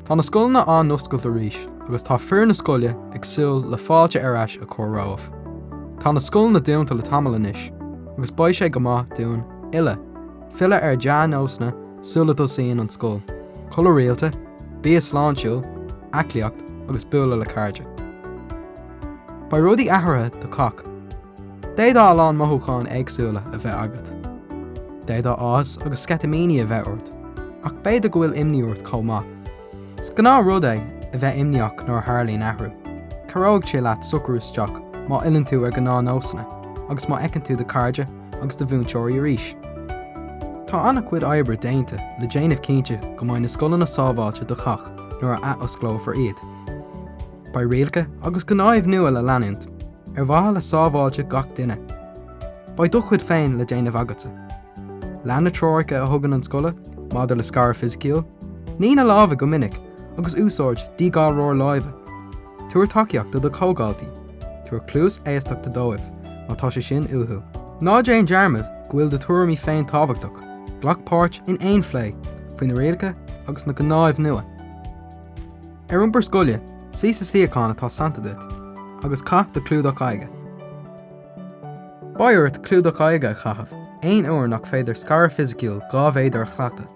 Tá na scoileanna á n-oscailt arís agus tá foireann na scoile ag súil le fáilte ar ais a chur romhaibh. Tá na scoileanna dúnta le tamall anois agus beidh sé go maith dúinn uile filleadh ar dhea-nósanna sula dtosaíonn an scoil, codladh rialta, bia sláintiúil, aclaíocht agus bualadh le cairde. Beidh rudaí athraithe do chách. D'fhéadfadh a lán mothúcháin éagsúla a bheith agat. D'fhéadfadh áthas agus sceitimíní a bheith ort, ach b'fhéidir go bhfuil imní ort chomh maith. Is gnáthrud é a bheith imníoch nuair a tharlaíonn athrú. Cabhróidh sé leat socrú isteach má fhilleann tú ar ghnáthnósanna agus má fheiceann tú do chairde agus do mhúinteoirí arís. Tá an-chuid oibre déanta le déanamh cinnte go mbeidh na scoileanna sábháilte do chách nuair a athosclófar iad. Beidh rialacha agus gnáimh nua le leanúint, ar mhaithe le sábháilteacht gach duine. Beidh do chuid féin le déanamh agatsa. Lean na treoracha a thugann an scoil maidir le scaradh fisiciúil, nigh na lámha go minic agus úsáid díghalróir láimhe. Tabhair tacaíocht do do chomhdhaltaí, tabhair cluas éisteachta dóibh má tá sé sin uathu. Ná déan dearmad go bhfuil do thuairimí féin tábhachtach, glac páirt in aon phlé faoi na rialacha agus na gnáimh nua. Ar iompar scoile, suí sa suíochán atá sannta duit, agus caith do chlúdach aghaidhe. Beidh ort clúdach aghaidhe a chaitheamh aon uair nach féidir scaradh fisiciúil dhá mhéadar a chleachtadh.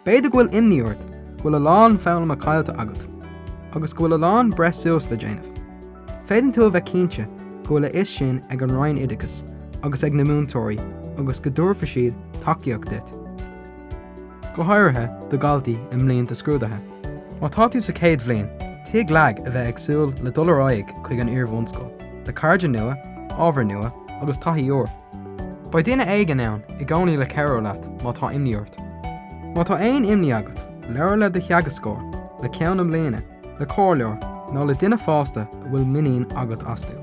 B'fhéidir go bhfuil imní ort go bhfuil a lán foghlama caillte agat, agus go bhfuil a lán breith suas le déanamh. Féadann tú a bheith cinnte go bhfuil a fhios sin ag an Roinn Oideachais agus ag na múinteoirí agus go dtabharfaidh siad tacaíocht duit. go háirithe do dhaltaí i mblianta scrúduithe. Má tá tú sa chéad bhliain, tig leat a bheith ag súil le dul ar aghaidh chuig an iar-bhunscoil, le cairde nua, ábhair nua agus taithí úr. Beidh duine éigin ann i gcónaí le cabhrú leat má tá imní ort. Má tá aon imní agat, labhair le do theagascóir, le Ceann na Bliana, le comhairleoir nó le duine fásta a bhfuil muinín agat astu.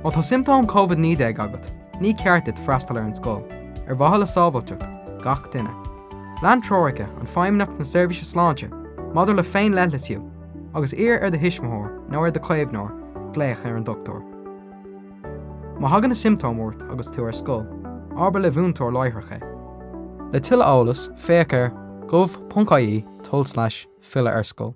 Má tá siomptóim COVID-19 agat, Ní ceart duit freastal ar an scoil, ar mhaithe le sábháilteacht gach duine. Lean treoracha an Feidhmeannacht na Seirbhíse Sláinte maidir le féin-leithlisiú agus iarr ar do thuismitheoir nó ar do chaomhnóir glaoch ar an dochtúir. Má thagann na siomptóim ort agus tú ar scoil, abair le múinteoir láithreach é. Le tuilleadh eolas, féach ar, gov.ie, tulslais, filleadh ar scoil.